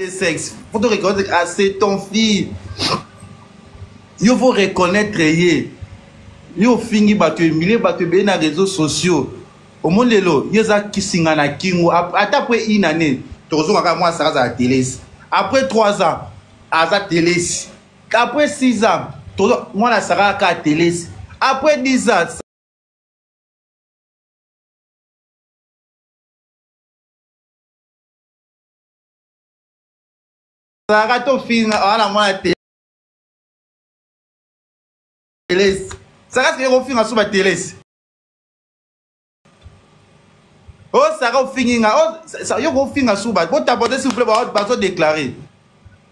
de sexe faut to reconnaître ah c'est ton fille yo faut reconnaître ye yo ofingi bato emilie bato ebele na réseaux sociaux omoni lelo ye eza kisinga na kingo ata apres une année tokozonga kaka mwana saka azala telesi après trois ans aza telesi après six ans mwana saka kaka telesi après dix ans azalaka tofinga awana mwana te telesi saka sike kofinga so batelesi osaka ofingi nga yo kofinga suba botaborde s'il vous plaît bazodeklare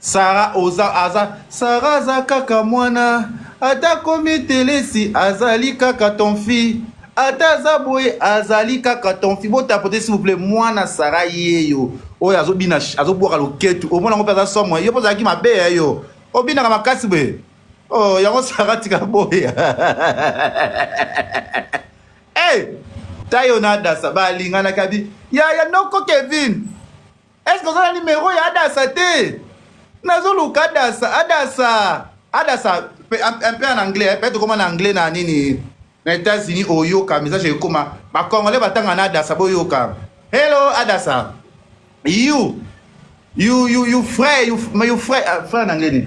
sara oza aza sara aza kaka mwana ata komi telesi azali kaka ton fille ata aza boye azali kaka ton fille botapote s'il vous plaît mwana sara yeyo oyo azobina azobwaka loketu omona yango mpe aza somo yo mpe ozalaki mabe ya yo obinaka makasi boye oh, yango sara tika boye hey, tayo na adasa balinganaka bi yaya noko kevin est ce que oza na nimero ya adasa te nazoluka adasa adasa adasa un peu en anglais peut tokoma na anglais na nini na états-unis oyoka message ekoma bacongolais batanga na adasa boyoka hello adasa you you you you frère you, you frère, uh, frère na anglais nini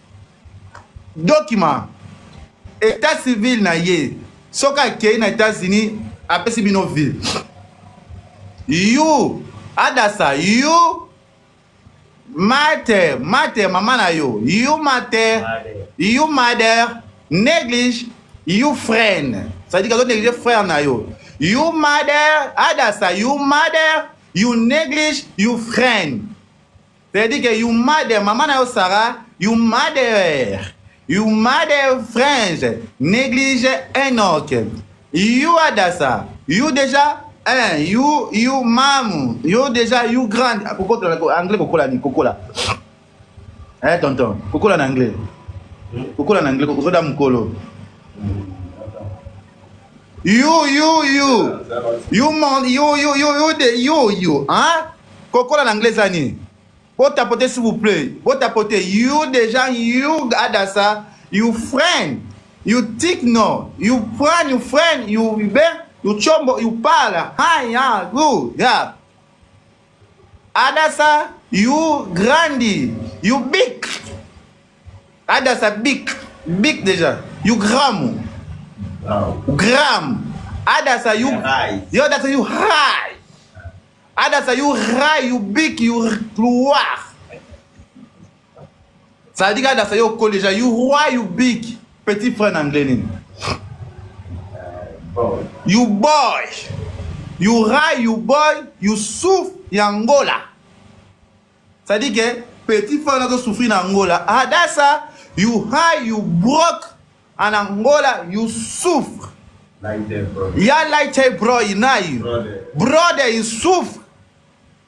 document état civil na ye soki akei na états-unis apesi bino vie you adasa you mate mate mama na yo you mate you mother néglige you friend c'est-à-dire kazo néglige frère na yo you mother adasa you mother you néglige you friend C'est-à-dire que you mother, maman na yo Sarah, you mother, you mother French, néglige Enoch, you Adassa, you déjà, hein, you, you mamu, you déjà, you grand, ah, kokola, anglais kokola ni, kokola. Eh tonton, kokola na anglais. Kokola na anglais, kokola mukolo. yo yo yo yo man yo yo yo yo de yo yo hein kokola na anglais eza nini botapote s'il vous plaît botapote you déjà you adasa you friend you tik no you friend you friend you be you chombo you pala ha ya gu ya Adasa, you grandi, you big. Adasa big, big déjà. You gramu. Wow. Gram. Adasa you high. Yo that's you high. Adasa you high, you big, you gloire. ça veut dire adasa yo okoli deja you why you big petit frère na anglais nini you boy you rai you boy you souffre ya angola ça dit que petit frère nazo souffrir na angola adasa you high you broke en angola you souffre ya light broy nayo brother you souffre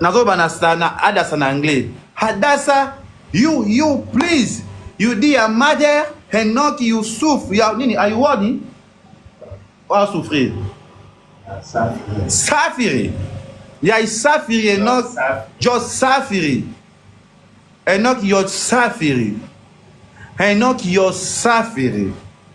nazoba na sana adasa na anglais hadasa you you please you di ya mother henok you souffre ya nini ayuwani oa souffrir safiri ya isafiri henok jo safiri henok yo safiri henok yo safiri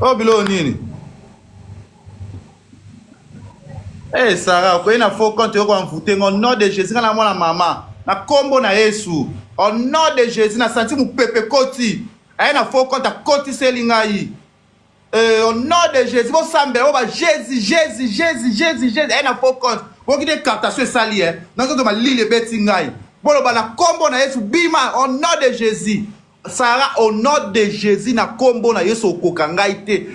oyo biloko nini ee eh, sara okoki na faux compte yoko amvute ngo nom de jésus ngai na mwana mama na nkombo na yesu au nom de jésus na santi mopepe koti aye na faux compte akotiseli ngai Euh, au nom de Jésus, bon sambe, oh bah Jésus, Jésus, Jésus, Jésus, Jésus, elle a faux compte. Bon qui décarte ce sali, hein. Dans que ma lille est bête ingaï. Bon le bala combo na Yesu bima au nom de Jésus. Sarah au nom de Jésus na combo na Yesu okokangaï te.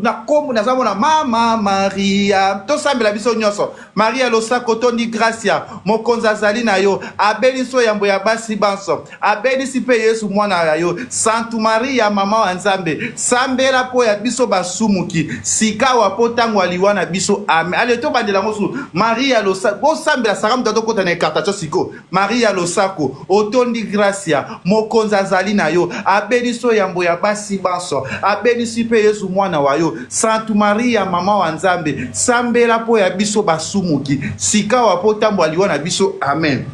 Na combo na zamo na mama Maria. To sambe la biso nyoso. maria losako tondi gracia mokonzi azali na yo abelisi yo yambo ya basi banso abelisi mpe yesu mwana ya yo santu maria mama wa nzambe sambela mpo ya biso basumuki sikawa mpo ntango ya liwa na biso ame ale tobandela yango susu maria losako bosambela saka moto atokota na ekartatio siko maria losako otondi gracia mokonzi azali na yo abenisi yo yambo ya basi banso abenisi mpe yezu mwana wa yo santu maria mama wa nzambe sambela mpo ya biso basumuki sikawa mpo ntambo aliwa na biso amen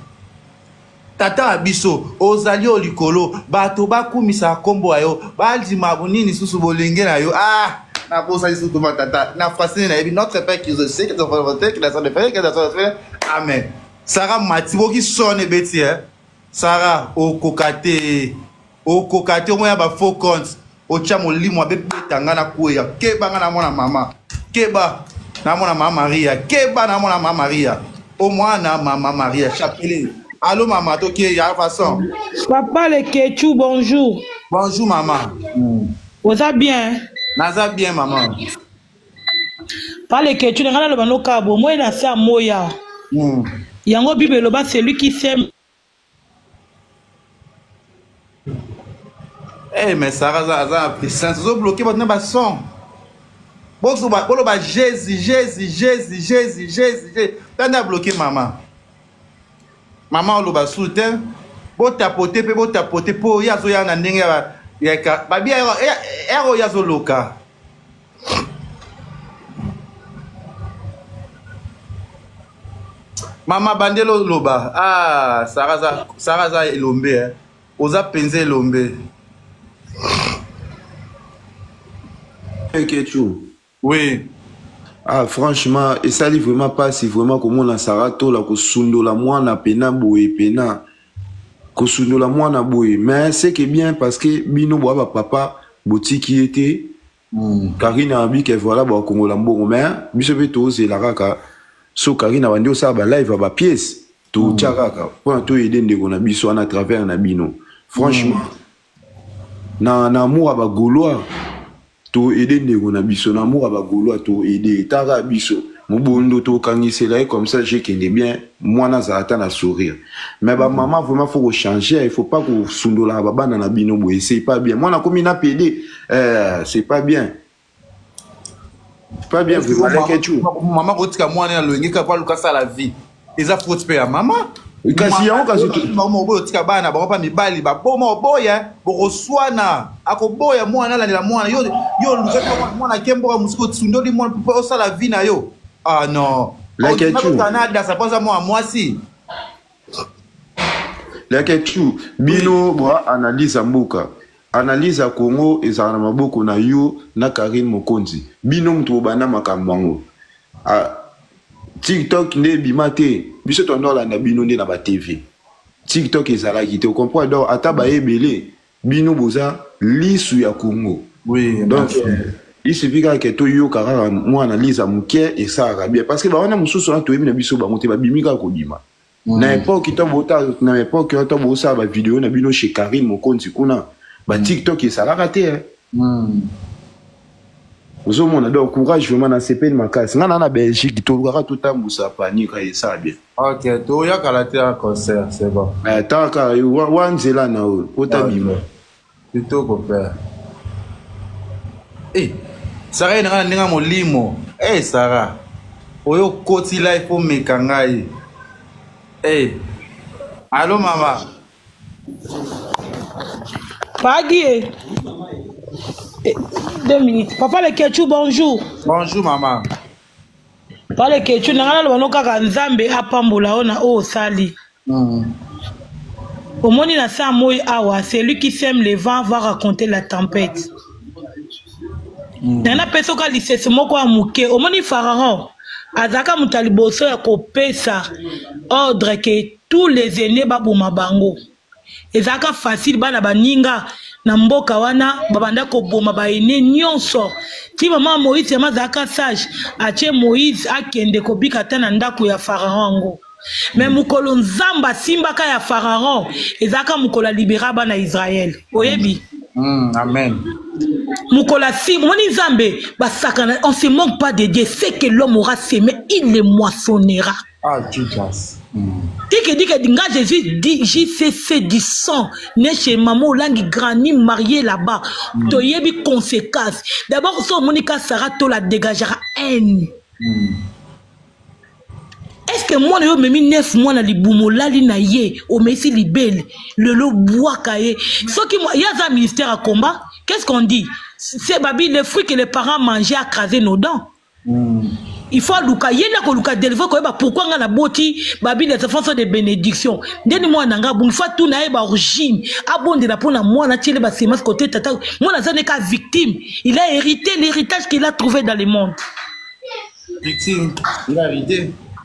tata wa biso ozali o likolo bato bakumisa nkombo ya yo bandima nini lisusu bolenge na yo ah nakosaki lisusu tuma tata na francine nayebi notre père qui est au ciel que ton frère vote que la sainte frère que la sainte frère amen Sarah mati boki son ebeti eh Sarah okoka te okoka te omoya ba faux compte otya molimo abebeta ngai nakweya keba ngai namona mama keba namona mama maria keba namona mama maria omwana mama maria chapele alo mama toke ya façon papa lekechu bonjour bonjour mama oza bien naza bien mama pale ketu na ngai naloba nokaa bomoi na se amoya hmm. yango bible eloba celui qui sème Hey, eh, mais Sarah aza aza na puissance ozo bloquer bato na bason boloba jésus jésus jésus jésus jésus tanda bloquer mama mama oloba su te botapote mpe botapote mpo ye azoya na ndenge ya babi ero ye azoloka mama bandeli oloba ah, sara aza elombe eh. oza mpenza elombe kechu oui ah franchement esali vraiment mpasi vraiment komona sara tola kosundola mwana pena boye pena kosundola mwana boye mais seke bien parce que bino boa bapapa botiki ye te mm. karine abi ke voilà bakongola mbongo mais biso mpe tozela kaka so karine abandi osala balive ya bapiece totya mm. kaka mpona toyede ndeko na biso wana travers na bino franchement mm. na na amour ya ba gaulois to aide ndeko na biso na amour ya ba gaulois to aide etaka biso mobondo tokangisela ye comme ça je kende bien mwana azala ata na sourire mais ba mama vraiment faut kochanger il faut pas kosundolaka babana na bino boye c'est pas bien mwana akomi na pede euh, c'est pas bien pas bien vu malin ketchou maman kotika mwana ya loyenge kaka aluka sala vie eza faute mpe ya mama kasi yango kasibango oboya otika bana bango mpa mibali baboma oboya bokoswana akoboya mwana alandela mwana yo yo olukaki mwana ake mboka mosuku osundoli mwana mpo osala vi na yo ah non canada sapoza mwana mwasi leketchu bino bwa analyse ya mboka analyse ya congo ezala na maboko na yo na karine mokonzi bino moto bobanda makambo yango ah, tiktok nde ebima te biso tondo olanda bino nde na batv tiktok ezalaki te okomprendre donc ata baye ebele bino boza lisu ya congo oui, donc il suffit kaka ke toyoka kaka mwa analyse ya moke esalaka bien parce que bawana mosusu wana toyebi na biso bango te babimi kaka kobima mm. na epoke na epoke wana ntango bosala bavideo na bino chez karine mokonzi kuna batiktok mm. esalaka te mm. ozomona donc courage vraiment nasepeli makasi ngai na na belgique tolukaka totambusa panier kaka esala bien ok toyakala te ya concert c'est bon eh, taka wa nzela na oyo otabima kitoko père e eh, sara ye na ngai na ndenge molimo e sara oyo okoti life omeka ngai e eh. alo mama Pagi. Eh, eh, deux minutes. Papa le Ketchou, bonjour. Bonjour, maman. Papa le Ketchou, nangana lo banoka ka nzambe apambola ona o sali. Mm. omoni na saa moi awa celui qui sème le vent va raconter la tempête mm. na napesa oka lisese moko ya moke omoni pharaon azalaka moto ya liboso ya kopesa ordre ke tous les aînés baboma bango ezalaka facile bana baninga na mboka wana babanda koboma baene nyonso ti mama moïse yama azalaka sage atie moïse akende kobika ata na ndako ya faraon yango me mokolo nzambe asimbaka ya faraon ezalaka mokolo alibera bana israele oyebi Mm, amen. Mokola si moni nzambe basakana on se manque pas de Dieu c'est que l'homme aura semé il le moissonnera Ah, Jesus. Mm. Tiki dit que dinga Jésus dit JCC du sang né chez maman Olangi Granny mariée là-bas. Mm. To yebi conséquence. D'abord so Monica Sarah to la dégagera haine. Mm. Est-ce que moi yo memi neuf mois na libumo lali na ye o mesi libele le lo bois kaye. Ce qui moi yaza ministère à combat, qu'est-ce qu'on dit? C'est babi le fruit que les parents mangeaient à craser nos dents. il faut aluka ye nde akoluka delivre koyeba pourkui ngai naboti babi des enfants sont de bénédiction nde ni mwana na ngai abongi fo atuna ye baorigine abondela mpo na mwana atiele basemence kote tata mwana aza neka victime il a hérité l'héritage qu'il a trouvé dans le monde victime il a hérité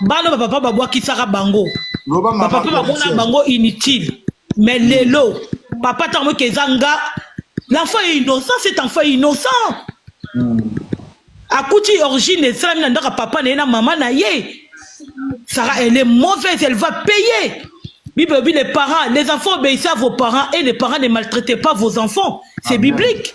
bana bapapa babwakisaka bango bapapa bamona bango inutile mais lelo papa ntango moke eza nga l'enfant est innocent cet enfant est innocent hmm. akuti origine esalami na ndaka papa na ye na mama na ye sara elle est mauvaise elle va payer bible obi les parents les enfants obéissez à vos parents et les parents ne maltraitez pas vos enfants c'est biblique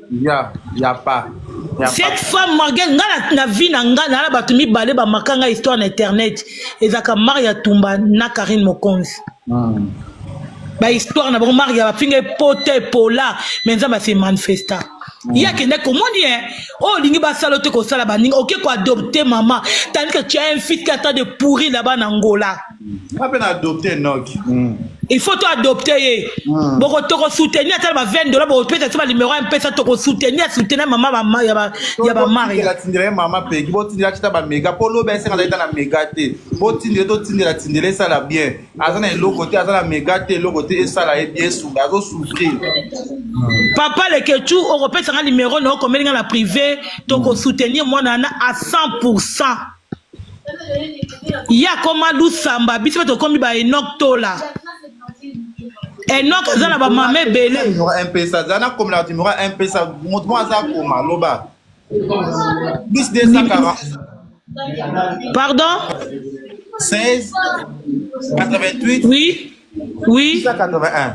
ya ya pa cette femme margel nga na, na vie na nga na bato mibale bamaka nga histoire na internet ezalaka maria tumba na karine mokonzi mm. bahistoire na bango maria bafinga epota epola me nzambe ase manifesta mm. ye akende komoni e oyo olingi basala ote kosala baninga oke koadopte mama tandike tu as un fils qui attend de pourri là-bas na ngola nga mpe na adopte enoki mm. il faut to adopte ye mm. boko tokosoutenir ata na ba 20 dola bokopesa ti banimero ya mpesa tokosoutenir soutenir mama ya bamariatindela ye mama peki botindela kita bamega mpo lobi asenga zalita na mega te botindele totindela tindela esala bien aza na eloko te aza na mega te eloko te esala ye bien esunga azosouffrir papa lekechu okopesa nga nimero na okomeli nga na privé tokosoutenir mwana wana a 100 pourcent ye akoma lusamba biso mpe tokomi ba enok tola enok aza na bamama ebele mpesa aza na komela bato mora mpesa moto moko aza koma loba plus 240 pardon 16 88 oui oui 681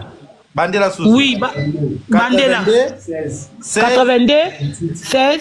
bandela susu oui ba, bandela 82 16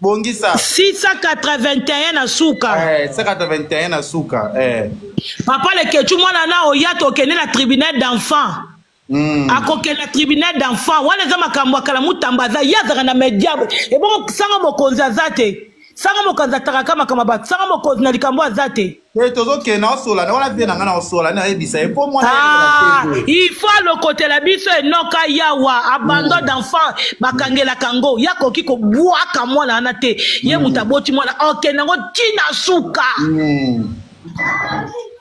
bongisa 681 na suka eh, 681 na suka eh. papa lekechu mwana na oya tokende na tribunal d'enfant Mm. akokenda tribunal d'enfant wana eza makambo ya kala mutamba aza ye azalaka na media ebongo sanga mokonzi aza te sanga mokonzi atakaka makambo ba sanga mokonzi na likambo aza te Eh, tozokende naosola na wana vie na ngai naosola nayebisa ye mpo mwana ah, il faut alokotela biso enoka yawa abandon mm. d'enfant bakangelaka yango ye akoki kobwaka mwana wana te ye mm. moto aboti mwana okende yango ntina suka mm.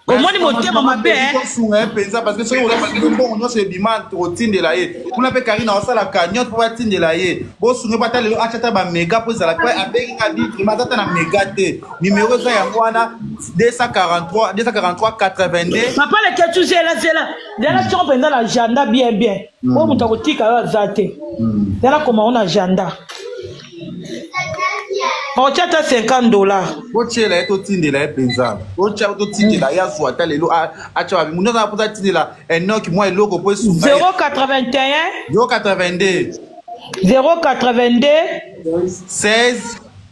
omoni motema mabe osunga ye mpenza parce que soki ozosunga mbongo nyonso ebima tokotindela ye kuna mpe karine aosala cagnote mpo batindela ye bosunga ye po ata lelo acata bamega mpo ezala mpe abengi nga bitrima aza ata na mega te Numéro eza yango wana 243 243 82. Papa le ketu zela zela. Zela tshoko penza na agenda bien bien. Hmm. Oyo moto akotika yo aza te. Hmm. Zela koma ona agenda. otya ata 50 dollar botyela ye totindela ye mpenza otya totindela ye azwa ata lelo atya babi mutu azala mpoza atindela enok mwa eloko mpo esunga 081 082 082 16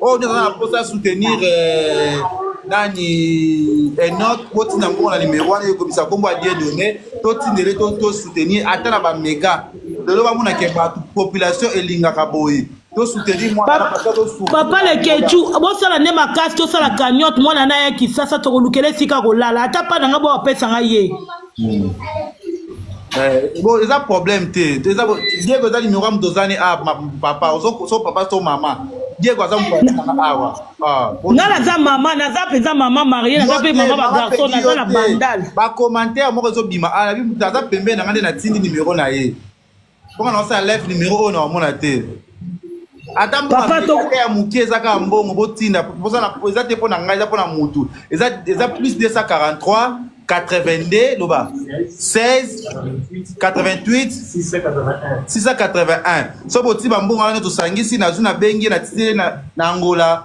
oyo nde aza na mposa ya soutenir euh, nani enok eh, botinda nkombo na nimero wana ekomisa nkombo ya die donne totindele tosoutenir ata na bamega lelo bamona ke bato population elingaka boye papa lekechu bosala nde makasi tosala cagnote mwana na ya kisasa tokolukela esika kolala ata mpa na ngai bawapesa ngai ye hmm. eh, bon eza problème te eza diego eza numéro ya moto ozani a ah, papa ozo papa to mama diego aza mokoaaa awa ah, nga naza mama naza mpenza mama marie naza mpe mama bagarçon naza na bandal bacommentaire moko ezobima ah, aza pembeni na nga nde natindi nimero na ye Pourquoi on a live numéro 1 na omona te? Ata papa to ya mukie eza ka mbongo botinda poza na eza te pona ngai eza pona mutu eza eza plus 243 82 loba 16 88 681 681 so boti bambongo wana tosangisi nazwi nabengi na titele na angola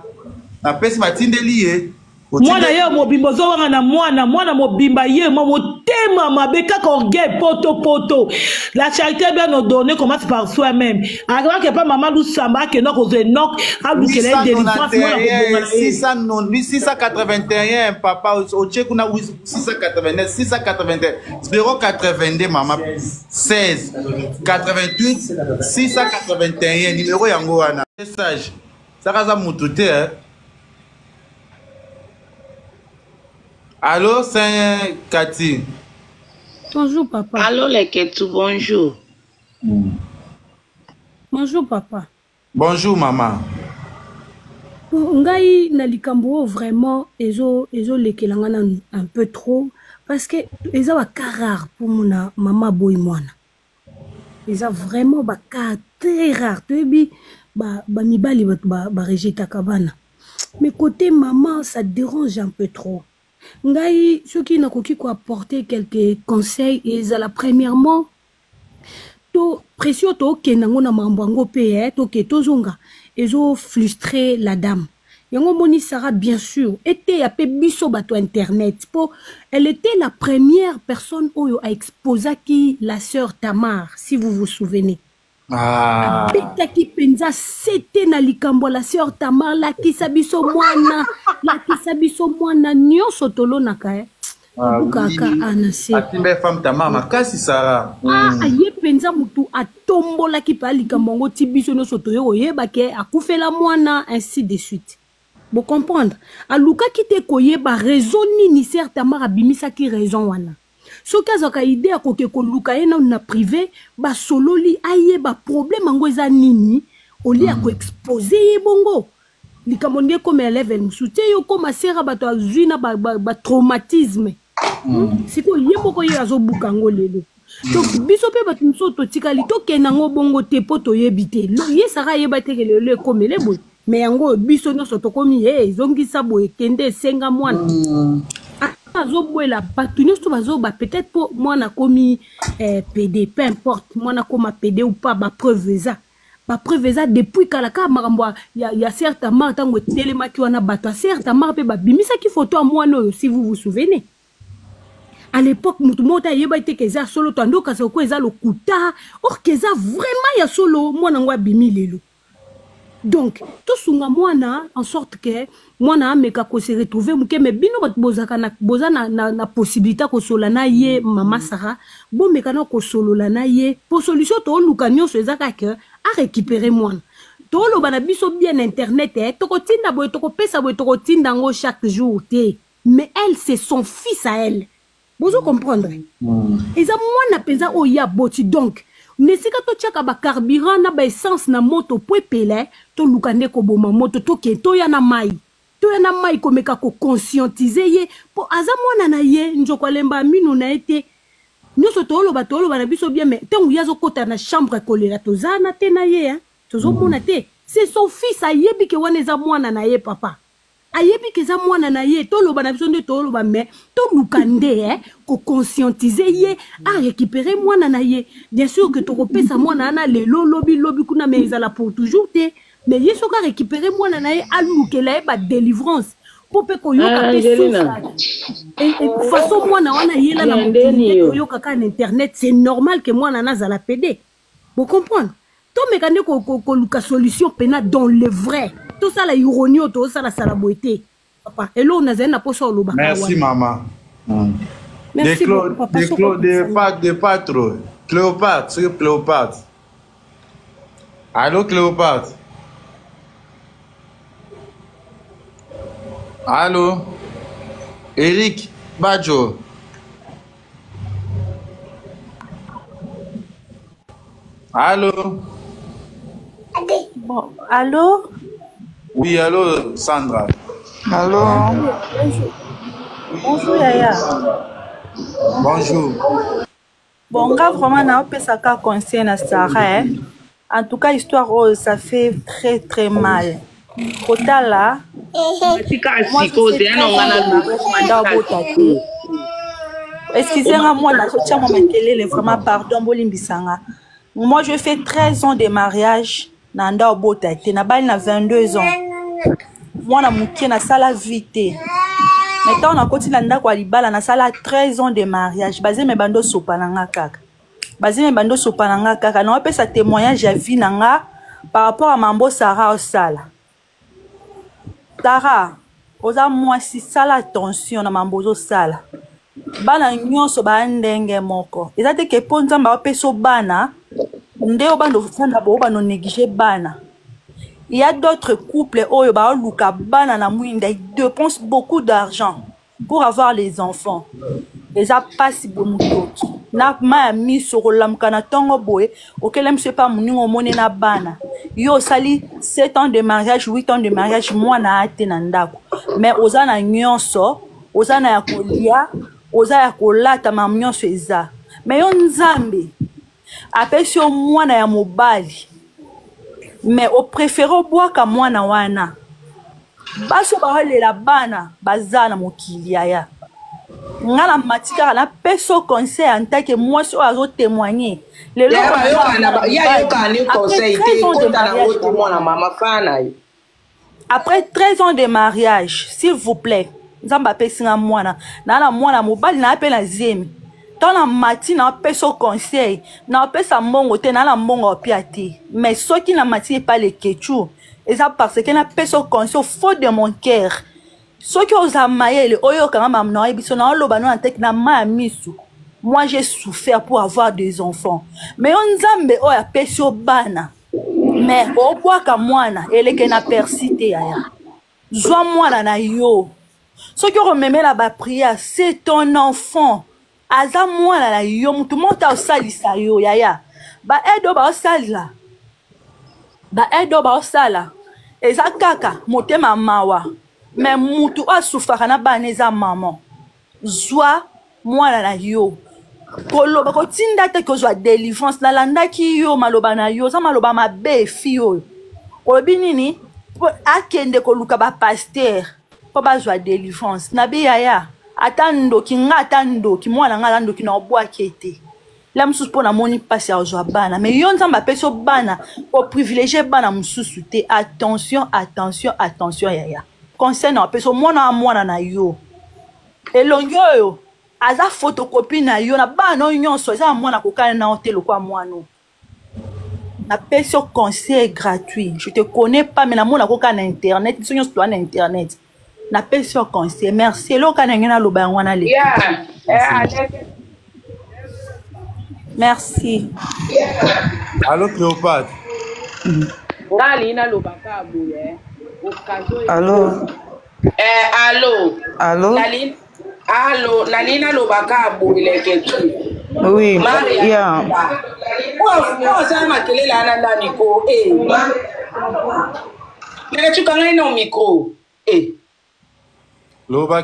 napesi batindeli ye mwana ye mobimba ozowanga na mwana mwana mobimba ye mwa motema mabe kaka orgueil poto poto la charité bien ordonné commence par soi même akebaka epa mama lusamba akenda kozwa enok alukela ye délivrance mwana kobonga 681 papa otie kuna 681 681 082 mama 16 88 681 numero yango wana message saka aza mutu te eh? Allô, c'est Cathy. Bonjour, papa. Allô, les Ketou, bonjour. Mm. Bonjour, papa. Bonjour, maman. ngai na likambo oyo vraiment ezolekela ngai nanu un peu trop parce que eza bakar rare mpo mona mama aboyi mwana eza vraiment ba cas très rare toyebi bamibali ba bato barejetaka ba, ba bana mais côté maman ça dérange un peu trop ngai soki nakoki koapporter quelque conseil ezala premièrement to pression tookenda yango na mambo yango mpe eh, toke tozonga ezofrustre la dame yango omoni sara bien sûr eteya mpe biso bato ya internet mpo elle était la première personne oyo aexposaki la sœur tamar si vous vous souvenez ah. abetaki mpenza sete na likambo ya la sœur tamar lakisa biso mwana lakisa biso mwana nyonso tolonaka eh? Ah, bukaka anase atinda ye femme tama makasi sara ah, mm. aye mpenza motu atombolaki mpe alikambo yango ti biso nyonso toye koyeba ke akufela mwana ainsi de suite bocomprendre alukaki te koyeba raison nini ser tamar abimisaki raison wana soki azwaka ide ya koke koluka ye nano na prive basololi ayeba problème yango eza nini olie ya mm. koexpose ye bongo likambo nde ekomela level mosusu te yo okoma sera bato azwi na batraumatisme ba, ba hmm. hmm. sikoyo ye moko ye azobuka yango lelo donc hmm. biso mpe bato mosusu totikali tokenda yango bongo te mpo toyebi te ye saka ayeba teke lelo ekomele boye me yango oyo biso nyonso tokomi e ezongisa boye kende esenga mwana azobwela bato nyonso bazoba peut-être mpo mwana akomi eh, pede peu importe mwana akoma pede ou pas bapreuve eza ba preuve eza depuis kala kaka makambo ya, ya sere tamar ntango etelemaki wana bato ya sere tamar mpe babimisaki foto ya mwana oyo si vous vous souvenez à l'époque moto moko te ayebaki te ke eza solo to ande okasa oko eza lokuta or ke eza vraiment ya solo mwana yango abimi lelo donc tosunga mwana en sorte ke mwana ameka ko se retrouver moke mais bino bato bozalaka na, boza na, na, na possibilité ya kosolola na ye mm. mama sara bomeka na kosolola na ye mpo solution tooluka nyonso eza kaka arécupere mwana toloba na biso bien na internet eh, tokotinda boye tokopesa boye tokotinda yango chaque jour te mais elle c'est son fils à elle bozo comprendre eza mwana mpenza oyo ye aboti donc na esika totyaka bacarburant na baessence na moto mpo epele toluka nde koboma moto toke toya na mai toya na mai komeka koconscientize ye mpo aza mwana na ye nzoko alemba mino na ye te nyonso tooloba tooloba na biso bien mai ntango ye azokota na chambre kolela toza na te na ye tozomona te se son fils ayebi ke wana eza mwana na ye papa ayebi ke eza mwana na ye toloba na biso nde toloba me toluka nde eh, koconscientise ye arécupere mwana na ye bien sûr ke tokopesa mwana wana lelo lobi lobi kuna me ezala pour toujours te me ye soki arécupere mwana na ye alukela ye badelivrance mpo mpe koyoka mpe souffre façon mwana wana yela na mokili te toyoka kaka na internet c'est normal ke mwana nazala pede Vous comprenez tomeka nde koluka solution pena dans le vrai tosala ironie oyo tosala sala boye te papa eloko nazali na mposa olobaka merci mama mm. merci beaucoup papa de patro cléopatre soki cléopatre allo cléopatre allo eric bajo Allô Bon, allô Oui, allô, Sandra. Allô Bonjour. Bonjour, Yaya. Bonjour. Bon, nga vraiment naopesaka conseil na Sarah, eh. En tout cas histoire oyo ça fait très très mal kotala excuse nga mwana azotia mwa makelele vraiment pardon bolimbisa nga moi je fais 13 ans de mariage na nda obota te nabali na 22 ans mwana moke nasala vie te mai ntango nakoti na ndako ya libala nasala 13 ans de mariage bazeme bando osopa na nga kaka bazemi ebandi osopa na nga kaka naopesa témoignage ya vie na nga par rapport ya mambo sara osala tara oza mwasi sala attention na mambo ozosala bana nyonso baya ndenge moko eza te ke mpo nzambe aopeso bana nde obanda ofanda bo obanda onéglige bana il y a d'autres couples oyo baoluka bana na mwinda ils dépensent beaucoup d'argent pour avoir les enfants eza mpasi boye motoki na ma ya miso okolamuka na ntongo boye okela miso epa moninga omoni na bana yo osali 7 ans de mariage 8 ans de mariage mwana ate na ndako mais oza na nyonso oza na ya kolia oza ya kolata ma nyonso eza mais yo nzambe apesi yo mwana ya mobali mais o prefere obwaka mwana wana basi oyo baolela bana baza na mokili yaya nga na mati kaka napesa yo conseil en tant que mwasi oyo azo témoigne lelo Ya bayokana ba- ya yokana ni conseil te ekota na ngo te mwana mama fana ye après 13 ans de mariage s'il vous plaît nzambe apesi nga mwana naa na mwana mobali naa mpe na zemi ntango na mati napesa conseil napesa mbongo te naa na mbongo apia te mais soki na mati epai lekechou eza parce que napesa conseil faux de mon cœur soki oza mayele oyokanga mamu na oyebi so naoloba no na teki na ma ya misu moi j'ai souffert pour avoir des enfants mais yo nzambe oyo apesi yo bana mais obwaka mwana eleke na persi te yaya zwa mwana na yo soki okomemela bapriere se ton enfant aza mwana na yo motu moko te aosalisa yo yaya baaide oyo baosalela baaide oyo baosala eza kaka motema mawa me motu oyo asufaka na bana eza mama zwa mwana na yo koloba kotinda te kozwa délivrance nalandaki yo maloba na yo oza maloba mabe fi oyo olobi nini mpo akende koluka bapaster mpo bazwa délivrance na biyaya ata ndoki nga ata ndoki mwana nga aza ndoki na obwaki ete la mosusu mpo namoni mpasi ya kozwa bana me yo nzambe apesi yo bana koprivilegie bana mosusu te attention attention attention yaya conseil na apesi yo mwana wa mwana na yo elongi oyo aza fotokopi na yo na bana no nyonso eza na mwana kokana na yo te lokwa mwana napesi yo conseil gratuit je te connais pas me namona koka na internet biso nyonso toa na internet napesi yo conseil merci eloka ndenge naloba yango wana leki merci alo cléopatre nga alingi naloba ka boye eh. alo eh, alo alo alo nani nalobaka boleke tu oui ya oza makelele ana nani ko eh. leke tuka ngai na micro eh. loba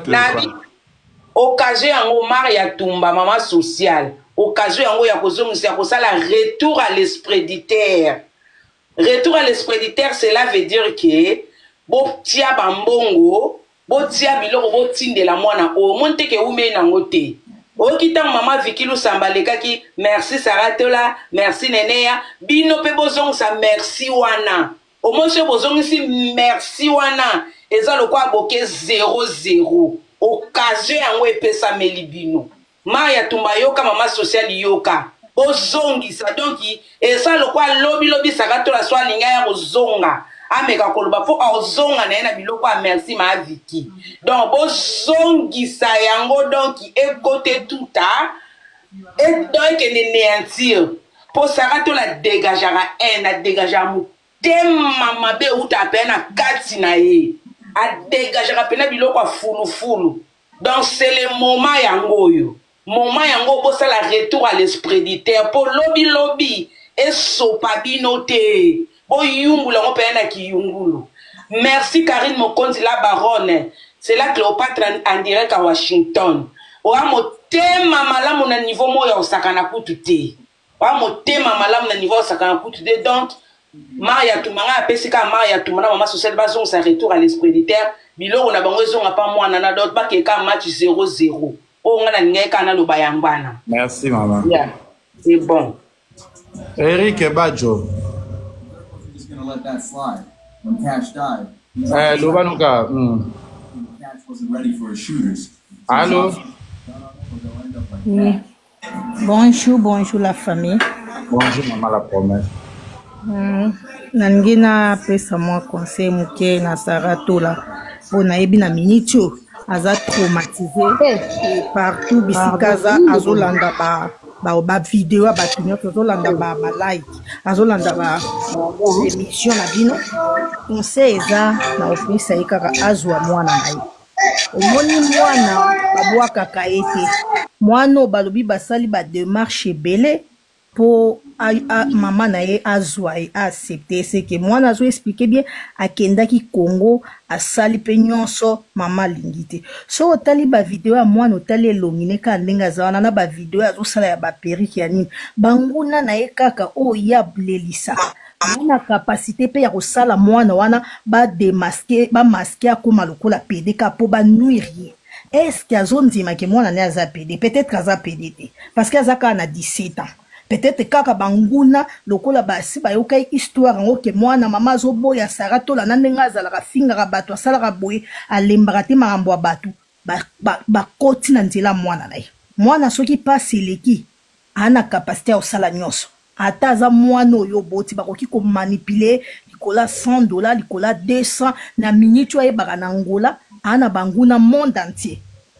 occasion yango mare ya tumba mama sociale occasion yango ya kozongisa ya kosala retour à l'espreditaire retour à l'espreditaire cela veut dire ke botia bambongo botia biloko botindela mwana oyo omoni te ke eumei nango te oyoki ntango mama viki lusamba alekaki merci sara tola merci neneya bino mpe bozongisa merci wana omoni soki bozongisi merci wana eza lokola boke 00 okazio yango epesameli bino ma ya tumba yoka mama social yoka ozongisa donc eza lokola lobi lobi saka tola so alinga ya kozonga ameka koloba mpo ozonga na ye na biloko ya merci ma viki donc bozongisa yango donc ekote tuta donc ekende neantire mpo saka tola degajaka haine adegajaka motema mabe euta mpe na kati na ye adegajaka mpena biloko ya fulufulu donc c'est le moment yango oyo moment yango bosala retour à l'espreditaire mpo lobi lobi esopa bino te boyungula yango mpenza na kiyungulu merci karine mokonzi la baronne c'est la cléopatre en direct à washington oya motema malamu na niveau moko ya kosakana kutu te ba motema malamu na niveau asakana kutu de donc mare ya tuma ngai apesi kaka mare ya tuma na mama sociale bazongisa retour à l'esprit de terre biloko na bango ezonga pa mwana na dot bakee kaka match 00 oyo oh, ngai nalingaki kaka naloba yango wana merci mama yeah. c'est bon eric bajo eh, loba noka mm. allo mm. Bonjour, bonjour la famille. Bonjour maman la promesse. Mm, nalingi napesa mwa conseil moke na sara tola mpo nayebi na miniti oyo aza traumatise eh. partout bisika aza azolanda ba bavideo ya bato nyonso azolanda balike azolanda baémission na bino conseil eza na kopesa ye kaka azwa mwana na ye omoni mwana babwakaka ye te mwana oyo balobi basali bademarche ebele mpo mama na ye azwa ye aaccepte eseke mwana azo explike bien akendaki congo asali mpe nyonso mama alingi te soki otali bavideo ya mwana otali elongi ne kaka ndenge aza wana na bavideo azosala ya baperike ya nini banguna na ye kaka oyo ye ablelisaka na capacité mpe ya kosala mwana wana bademaske bamaske akóma lokola pede ka mpo banuire ye estce azondima ke mwana ne aza pede peut-être aza pede te parce que aza kaka na 17 ans peut-être kaka banguna lokola basi bayokaki histoire yango ke mwana mama azoboya sara tola na ndenge azalaka afingaka bato asalaka boye alembaka te makambo ya bato bakoti ba, ba na nzela mwana na ye mwana soki mpasi eleki Ana capacité ya kosala nyonso ata aza mwana oyo oboti bakoki komanipule likolo ya 100 dola likolo ya 200 na miniti oyo ayebaka na angola aa na banguna monde entier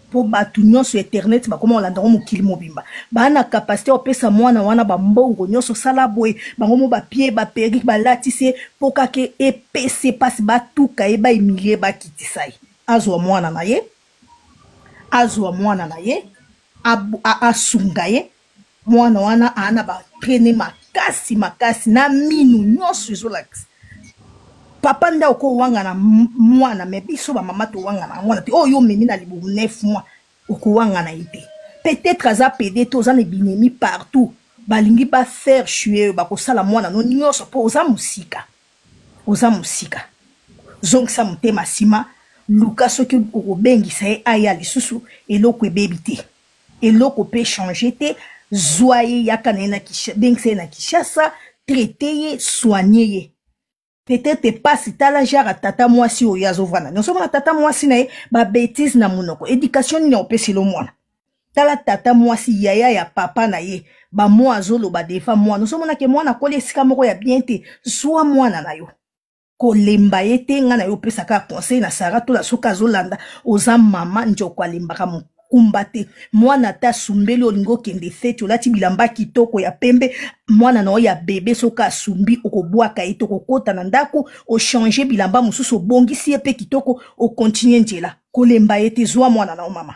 mpo bato nyonso internet bakoma kolanda yango mokili mobimba baa na kapasite ya kopesa mwana wana bambongo nyonso sala boye bango mo bapie baperike balatisi ye mpo kaka epesi ye mpasi batuka ye baimilie bakitisa ye azwa mwana na ye azwa mwana na ye asunga ye mwana wana aa na batraine makasi makasi na minu nyonso ezolakisa papa nde akoki owangana mwana me biso bamama towangana yango wana te oyo yo omemi na libumu 9 mois okowangana ye te peut-être aza pede te oza na binemi partout balingi bafaire chue oyo bakosala mwana no nyonso mpo oza mosika oza mosika zongisa motema nsima luka soki okobengisa ye aya lisusu eloko ebebi te eloko mpe change te zwa ye yaka na ye na bengisa ye na kinshasa traite ye soigne ye peut-être epasi tala jara tata mwasi oyo azovanda nyonso mona tata mwasi na ye babetise na monoko education nini akopesela omwana tala tata mwasi yaya ya papa na ye bamwa azoloba defa mwana osomonake mwana akoli esika moko ya bien te zwa mwana na yo kolemba ye te ngai na yo opesaka conseil na sara tola soki azolanda oza mama njoko alembaka mokumba te mwana ata asumbeli olingi okende feti olati bilamba kitoko ya pembe mwana na yo ya bebe soki asumbi okobwaka ye te okokota na ndako ochange bilamba mosusu obongisi ye mpe kitoko okontinue njela kolemba ye te zwa mwana na yo mama